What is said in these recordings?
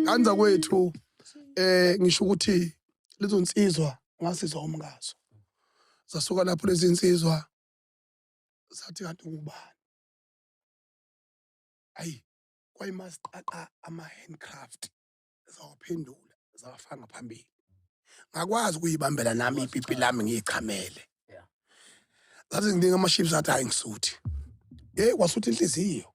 kanza kwethu eh ngisho ukuthi lezo nsizwa ngasizwa umngazo zasuka lapho lezi nsizwa zathi kanti ngubani ayi kwayimasqaqa ama-handcraft zawaphendula zawafanga phambili ngakwazi ukuyibambela nami ipipi lami ngiyichamele zazi nginingi ama-ships athi hayi ngisuthi yeyi kwasuthi inhliziyo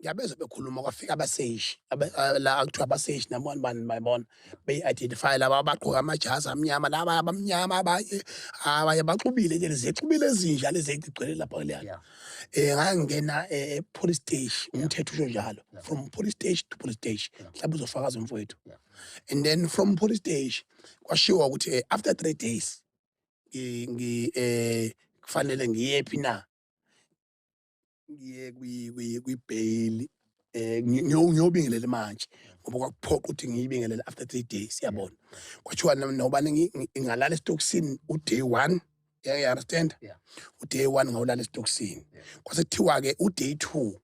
ngiyabezwa bekhuluma kwafika abaseshi abe- ah, la akuthiwa abaseshi nabona bani bayibona beyi-identify laba abagqoke amajazi amnyama laba abamnyama abanye abanye baxubile nje zixubile ezinja lezi egcwele lapha kuleya Yeah. um ngangingena eh, e-police stage umthetho usho njalo Yeah. from police stage to police stage Yeah. mhlawumbe uzofakaza umfowethu Yeah. and then from police stage kwashiwo ukuthi eh, after three days ngi- ngi- eh, kufanele ngiyephi na ngiye kwibheyili eh ngiyobingelela manje ngoba kwakuphoqa ukuthi ngiyibingelele after 3 days yabona kwathiwa nobani ngingalala esitokisini uday 1 yeah you understand yeah. uday 1 ngawulala esitokisini yeah. kwasekuthiwa ke uday 2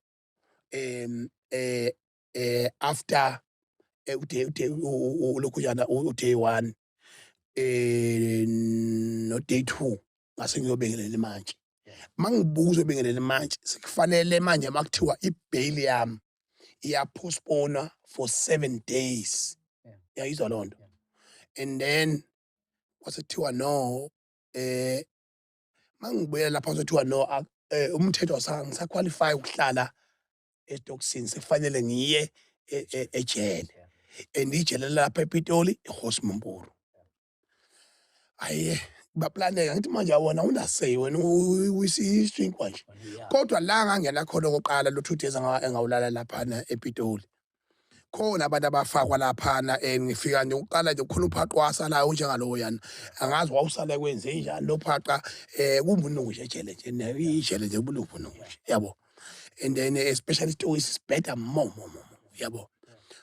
em eh eh after eh, uday uday ulokhuyana uday 1 eh no day 2 ngase ngiyobingelela manje mangibuza obingelela manje sikufanele manje makuthiwa ibail yami iyapostpona for 7 days yayizwa lonto and then wasethiwa no eh mangibuya lapha uzothiwa no eh, umthetho awusa- ngisaqualify ukuhlala esitokisini sekufanele ngiye e- e- ejele and ijele lapha epitoli ihosi mumburu aye baplaneka ngithi manje awona unasey wena uyisinkwa nje kodwa la ngangena khona okoqala lothudeza engawulala laphana epitoli khona abantu abafakwa laphana and eh, ngifika nje uqala nje khona uphaqa wasalayo njengalowo yana angazi wawusale kwenze njani lo phaqa eh kumbunungu nje jele nje nayo ijele nje ubuluphu nungu nje yabo and then eh, especially story is better more more more yabo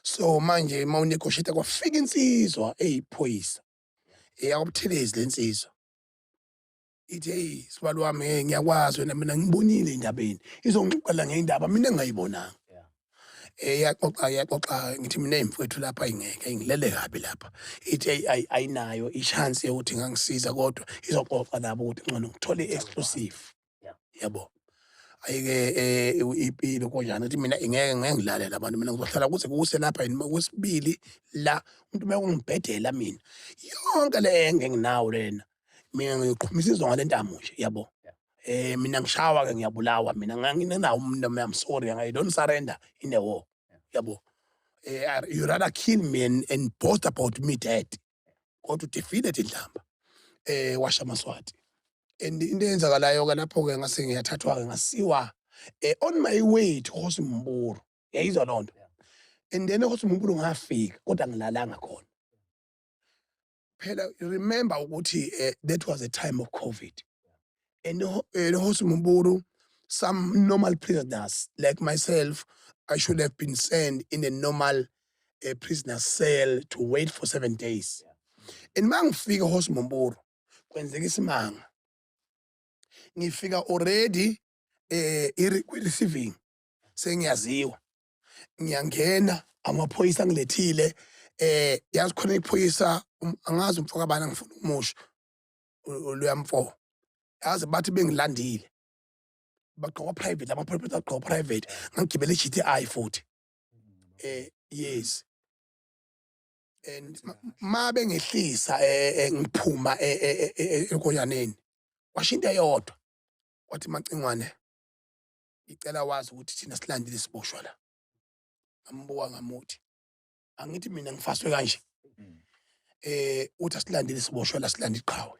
so manje uma unegotiate kwafika insizwa eyiphoyisa eyakubuthelezi lensizwa ithi hey sibali wami hey ngiyakwazi wena mina ngibonile endabeni izongixoxela ngendaba mina engayibonanga eyaxoxa eh, yaxoxa ngithi mina imfowethu lapha ingeke ngilele kabi lapha ithi hey ayinayo i-chance yokuthi ngangisiza kodwa izoxoxa nabo ukuthi ngcono ngithole i-exclusive yabo ayike eh, ipilo konjani ukuthi mina ingeke ngeke ngilalele abantu mina ngizohlala kuze kuse lapha yini kwesibili la umuntu uma ungibhedela mina yonke le engenginawo lena mina ngiyoqhumisa izonga lentamo nje yabo eh mina ngishawa ke ngiyabulawa mina nganginawo umuntu I'm sorry I don't surrender in the war yabo eh you rather kill me and, and boast about me dead kodwa udefeated indlamba eh washa maswati and into eyenzakalayo ke lapho ke ngase ngiyathathwa ke ngasiwa eh on my way to Hosimburu yayizwa lonto and then Hosimburu ngafika kodwa ngilalanga khona phela remember ukuthi eh, that was a time of covid and ho- and hosi muburu some normal prisoners like myself i should have been sent in a normal uh, prisoner cell to wait for seven days and uma ngifika hosi muburu kwenzeka isimanga ngifika already eh i-re- kwi-receiving sengiyaziwa ngiyangena amaphoyisa angilethile eh yazi khona iphoyisa um, angazi umfo kabani angifuna umusho oluyamfo yazi bathi bengilandile bagqoka private lama private agqoka private ngagibela i-GTI futhi eh yes and ma bengehlisa eh, eh, ngiphuma eh, eh, eh, eh, ekonyaneni washo into eyodwa wathi macingwane ngicela wazi ukuthi thina silandile siboshwa la ngambuka ngamuthi angithi mina ngifaswe kanje eh uthi asilandile siboshwa la silanda iqhawe